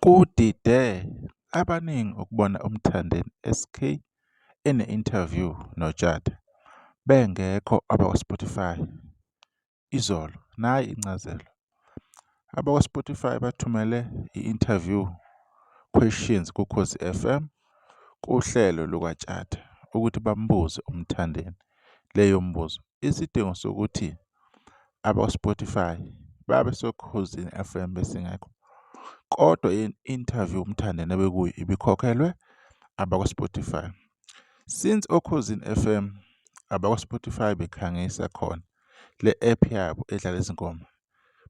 Kudide abaningi ukubona uMthandeni SK ene-interview noTshatha bengekho abakwaSpotify izolo. Nayi incazelo. AbakwaSpotify bathumele i-interview questions kuKhosi FM kuhlelo lukaTshatha ukuthi bambuze uMthandeni leyo mbuzo. Isidingo sokuthi abakwaSpotify babe soKhozini FM besingekho. Kodwa i-interview uMthandeni ebekuyo ibikhokhelwe abakwaSpotify. Since oKhozini FM abakwaSpotify bekhangisa khona le app yabo edlala izingoma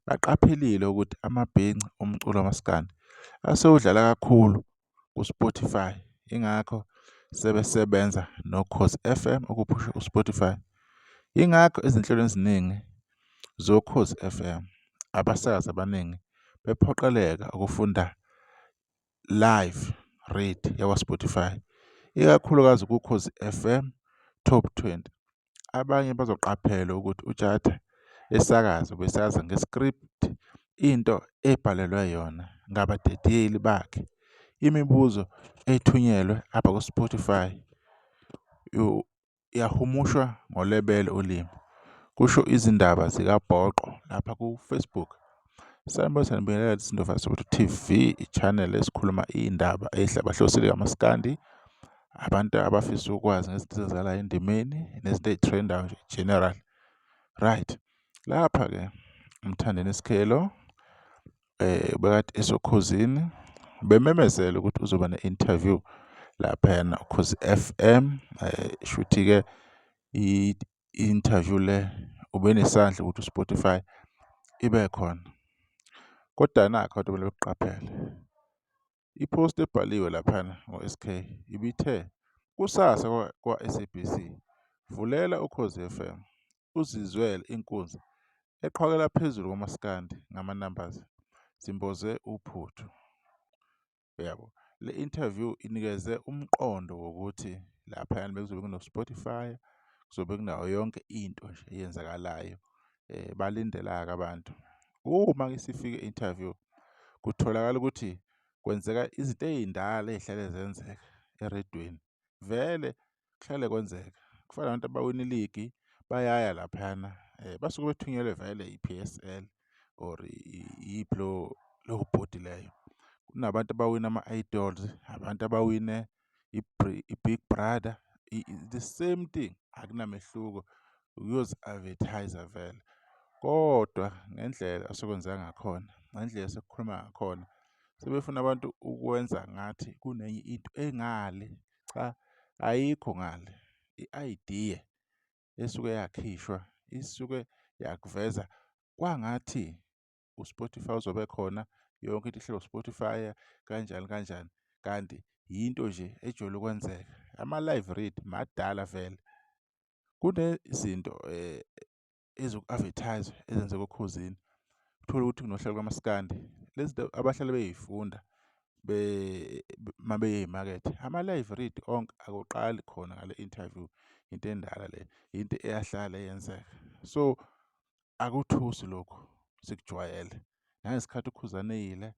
baqaphelile ukuthi amabhinci omculo wamaskandi asewudlala kakhulu ku-Spotify ingakho sebesebenza noKhosi FM ukuphusha uSpotify ingakho ezinhlelo eziningi zoKhosi FM abasakazi abaningi bephoqeleka ukufunda live read yakwa-Spotify, ikakhulukazi kuKhozi FM Top 20. Abanye bazoqaphela ukuthi uTshatha esakaza ubesaza nge-script into ebhalelwe yona ngabadedeli bakhe. Imibuzo ethunyelwe apha ku-Spotify Uyahumushwa ngolebele ulimi, kusho izindaba zikaBhoqo lapha ku-Facebook. Sanibona sanibingelela lesi Ndova Soweto TV, i-channel esikhuluma iy'ndaba ey'hlabahlosile kamaskandi. Abantu abafisa ukwazi ngezinto ezenzakalayo endimeni nezinto ey'threndayo nje general. Right, lapha-ke uMthandeni Sikhelo bekade esoKhozini bememezele ukuthi uzoba ne-interview laphayana uKhozi F_M shuthi-ke i-interview le ubenesandla ukuthi u-Spotify ibe khona. Kodwa nakhu abantu kumele bekuqaphele. I-post ebhaliwe laphana ngo-SK ibithe kusasa kwa-SABC vulela uKhozi FM uzizwele inkunzi eqhwakela phezulu komaskandi ngama-numbers simboze uphuthu. Uyabo? Le interview inikeze umqondo wokuthi laphayana bekuzobe kuno-Spotify, kuzobe kunayo yonke into nje eyenzakalayo eh, balindela-ke abantu uma ke sifike interview kutholakala ukuthi kwenzeka izinto ey'ndala ey'hlale zenzeka eredweni vele kuhlale kwenzeka kufana nabantu abawina iligi bayaya laphana um basuke bethunyelwe vele i-p s l or iyiphi lowo bhodi leyo kunabantu abawina ama-idols abantu abawine i-big brother the same thing akunamehluko uyozi-advertise-a vele kodwa ngendlela asekwenzeka ngakhona ngendlela esekukhuluma ngakhona sebefuna abantu ukwenza ngathi kunenye into engale cha ayikho ngale i-idea esuke yakhishwa isuke yakuveza kwangathi uSpotify uzobe khona yonke into ihlelo Spotify kanjani kanjani kanti yinto nje ejwayele ukwenzeka ama-live read madala vele kunezinto eh ezoku-advertise ezenzeka okhozini uthole ukuthi kunohlelo kamaskandi lezi zinto abahlale beyifunda be mabeye emakethe ama-live read onke akuqali khona ngale interview into endala le into eyahlala yenzeka so akuthusi lokhu sikujwayele nangesikhathi ukhuzane eyile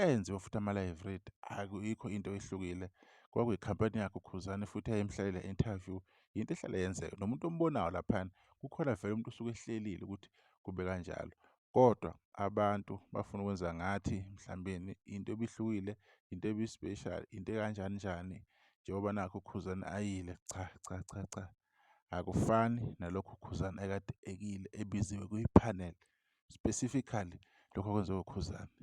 enziwe futhi ama-live read akuyikho into ehlukile kwakuyikhampani yakhe ukhuzane futhi ayemhlalele interview yinto ehlale yenzeka nomuntu ombonayo laphana kukhona vele umuntu usuke ehlelile ukuthi kube kanjalo kodwa abantu bafuna ukwenza ngathi mhlambeni into ebihlukile into ebispecial into ekanjani njani njengoba nakho ukhuzane ayile cha cha cha cha akufani nalokhu uKhuzani ekade ekile ebiziwe kwi-panel specifically lokho okwenziwa uKhuzani.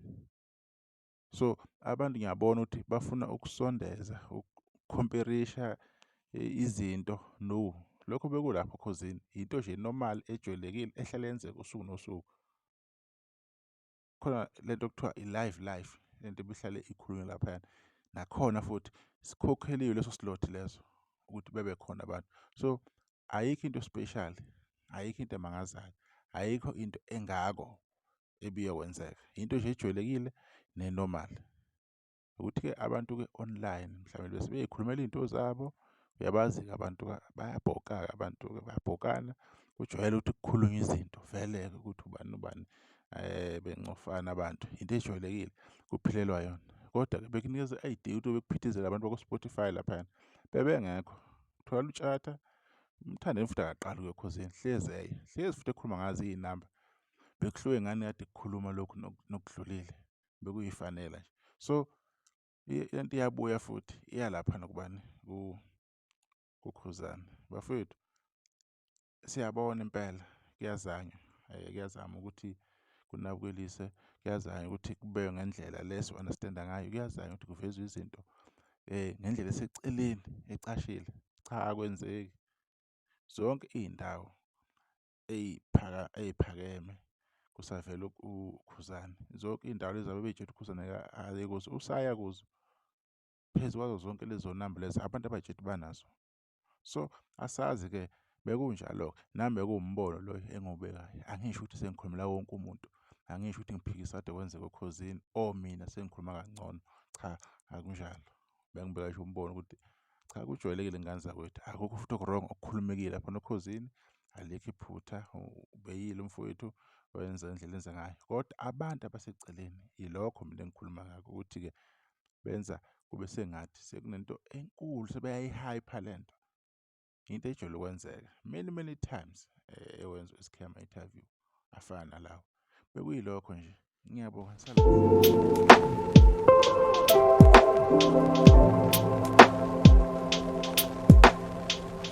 So abantu ngiyabona ukuthi bafuna ukusondeza ukukhomperisha eh, izinto no lokho bekulapho khozini yinto nje normal ejwayelekile ehlale yenzeka usuku nosuku. khona lento okuthiwa i-live life lento ebihlale ikhulunywe laphayana nakhona futhi sikhokheliwe leso slot leso ukuthi bebe khona abantu so ayikho into special ayikho into emangazayo ayikho into engako ebiyokwenzeka into nje ejwayelekile nenormal ukuthi-ke abantu-ke online mhlawumbe bese beyikhulumela iy'nto zabo uyabazi-ke abantu bayabhoka-ke abantu-ke bayabhokana kujwayele ukuthi kukhulunywe izinto vele-ke ukuthi ubani ubani um bencofana abantu yinto ejwayelekile kuphilelwa yona kodwa-ke bekunikeza i-id ukuthi bekuphithizela abantu bakwa-spotify laphayana bebengekho thola utshata umthandeni futhi akaqali kuyokhozini hlezi eye hlezi futhi ekhuluma ngazo iy'namba bekuhluke ngani kade kukhuluma lokhu nokudlulile bekuyifanela nje so lento iyabuya futhi iyalapha nokubani kukhuzana bafethu siyabona impela kuyazanywa eh, kuyazama ukuthi kunabukeliwe kuyazanywa ukuthi kube ngendlela le si-understand-a ngayo kuyazanywa ukuthi kuvezwe izinto um ngendlela eseceleni ecashile cha akwenzeki zonke iy'ndawo ey'phakeme kusavela uKhuzani. Zonke iy'ndawo lezi abebey'tshela uKhuzani aye kuzo usaya kuzo. Phezu kwazo zonke lezo namba lezo abantu abay'tshela ukuthi banazo. So asazi-ke bekunjalo-ke nami bekuwumbono lo engiwubekayo. Angisho ukuthi sengikhulumela wonke umuntu. Angisho ukuthi ngiphikisa kade kwenzeka oKhozini or mina sengikhuluma kangcono, cha akunjalo. bengibeka ngisho umbono ukuthi cha kujwayelekile ngane zakwethu akukho futhi okurong okukhulumekile lapha nokhozini alikho iphutha ubeyile umfowethu wenza indlela enza ngayo kodwa abantu abaseceleni yilokho mina engikhuluma ngakho ukuthi-ke benza kube sengathi sekunento enkulu sebeyayihypha le nto into ejole ukwenzeka many many times eh, ewenza i-scam interview afana nalawo bekuyilokho nje ngiyabonga